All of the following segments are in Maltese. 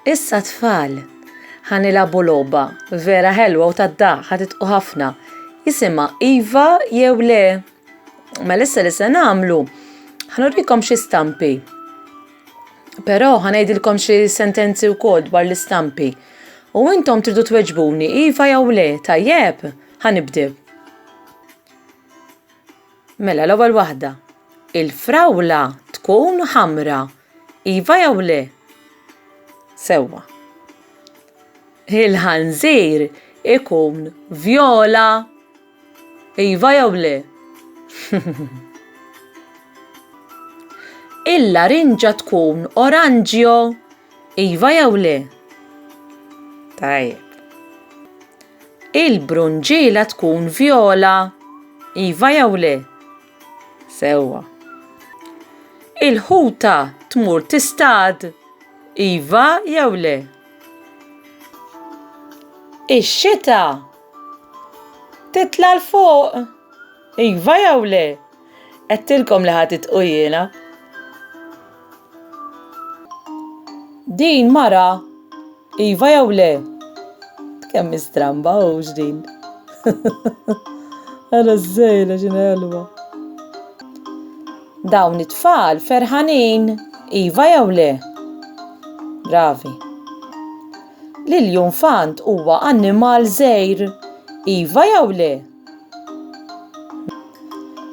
Issa tfal, ħa nilagħbu logħba vera ħelwa u tad-daħ ħa titqu ħafna. Jisimha iva jew le. Mela issa li se nagħmlu, ħnurikom xi stampi. Però ħa ngħidilkom xi sentenzi wkoll dwar l-istampi. U intom tridu tweġbuni iva jew le, tajjeb? Ħa nibdew. Mela l-ewwel waħda. Il-frawla tkun ħamra. Iva jew le? Sewwa. Il-ħanżir ikun vjola. Iva jew le? Il-larinġa tkun oranġjo, iva jew le? Tajjeb. Il-brunġiela tkun vjola, iva jew le? Sewwa. Il-ħuta tmur tistad? Iva jew le? Ix-xita titla' l fuq? Iva jew le? Għedtilkom li ħadd itqu jiena. Din mara, iva jew le? Kemm stramba hux din. Ara żejla x'in ħelwa. Dawn it-tfal ferħanin, iva jew le? Bravi. L-iljunfant huwa annimal żgħir, iva jew le?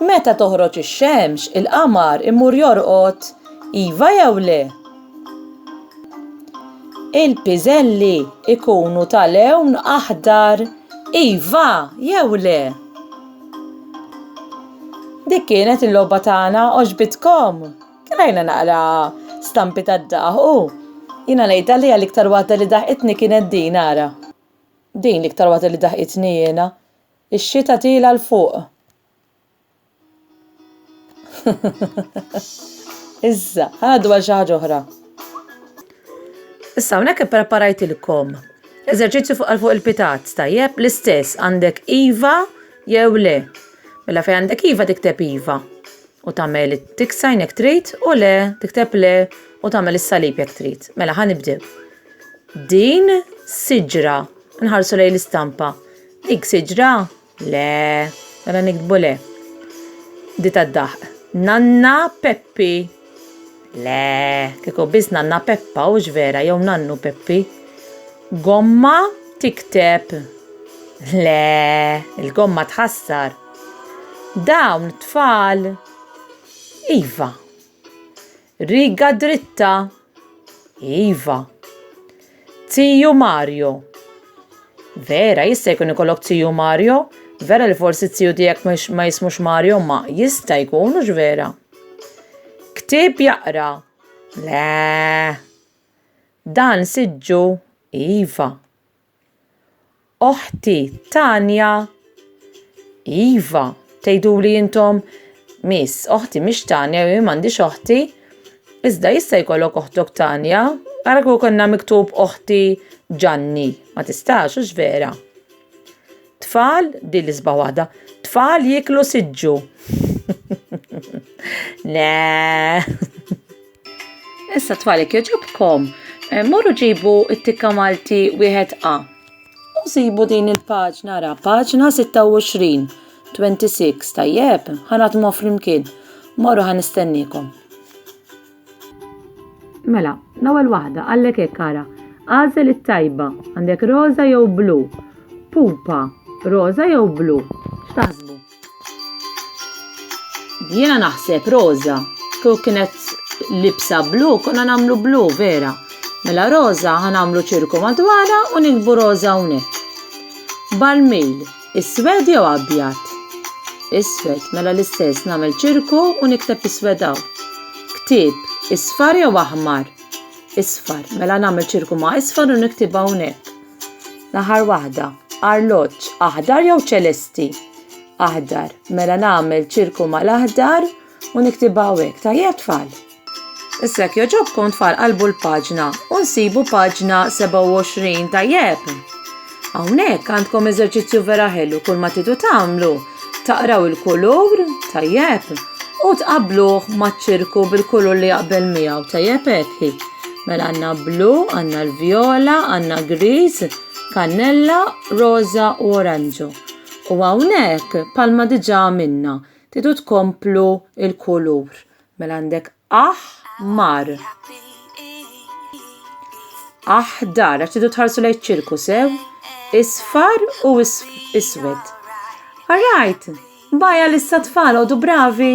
Meta toħroġ ix-xemx, il-qamar imur jorqod, iva jew le? Il-piżelli jkunu ta' lewn aħdar, iva jew le? Dik kienet il-logħba tagħna għoġbitkom. Krajna naqra stampi tad-daħ u jiena ngħidha li għal iktar waħda li daħqitni kienet din ara. Din l-iktar waħda li daħqitni jiena. Ix-xita tiela l fuq. Issa, ħadu għal xi ħaġa oħra. Issa hawnhekk ippreparajtilkom eżerċizzju fuq għal fuq il-pitat, tajjeb l-istess għandek iva jew le. Mela fejn għandek iva tikteb iva. u tagħmel tik sign jekk trid u le tikteb le u tagħmel is-salib jekk trid. Mela ħa nibdew. Din siġra nħarsu lejn l-istampa. Dik siġra le mela nikdbu le. Di tad-daħq. Nanna Peppi. Le, kieku biss nanna Peppa hux vera jew nannu Peppi. Gomma tikteb. Le, il-gomma tħassar. Dawn tfal. Iva. Riga dritta. Iva. Tiju Mario. Vera, jista' jkun ikollok tiju Mario? Vera li forsi t-tiju tiegħek ma jismux Mario ma jista' jkun hux vera. Ktieb jaqra. Le. Dan siġġu? Iva. Oħti Tanja, Iva, tgħiduli intom Miss, oħti mhix Tanja, jien m'għandix oħti. Iżda jista' jkollok oħtok Tanja, ara kieku konna miktub oħti Ġanni, ma tistax, hux vera. Tfal, din l-isbaħ waħda, tfal jiklu siġġu. Le. Issa twali kieġobkom, eh, morru ġibu it-tikka Malti wieħed A. U sibu din il-paġna ra, paġna 26, 26, tajjeb, ħanat mo flimkien. Morru ħan istennikom. Mela, l-ewwel waħda għallek hekk ara. Għażel it-tajba, għandek roża jew blu. Pupa, roża jew blu. X'taħsbu? Jiena naħseb roża, kieku kienet libsa blu, konna namlu blu, vera. Mela roża ħanamlu ċirku madwara u nikbu roża unek. Balmil, is-swed jew abjad? Is-swed, mela l-istess namel ċirku u nikteb is-swedaw. Ktib, isfar jew aħmar? Isfar, mela namel ċirku ma' isfar u niktibha unek. L-aħħar waħda, arloġġ, aħdar jew ċelesti? Aħdar. Mela nagħmel ċirku mal-aħdar u niktibha hekk. Tajjeb tfal. Issa jekk joġobkom tfal qalbu l-paġna u nsibu paġna 27 tajjeb. Hawnhekk għandkom eżerċizzju vera ħelu kull ma tidu tagħmlu Taqraw il-kulur, tajjeb, u tqabluh maċ-ċirku bil-kulur li jaqbel miegħu, tajjeb hekk. Mela għandna blu, għandna l-vjola, għandna griż, kannella, roża u oranġu. U hawnhekk palma diġà minna, tidu tkomplu il-kulur. Mela għandek aħ mar. Aħdar, għax tidu tħarsu lejn ċirku sew, isfar u iswed. Alright, baja l-issa tfal, għodu bravi.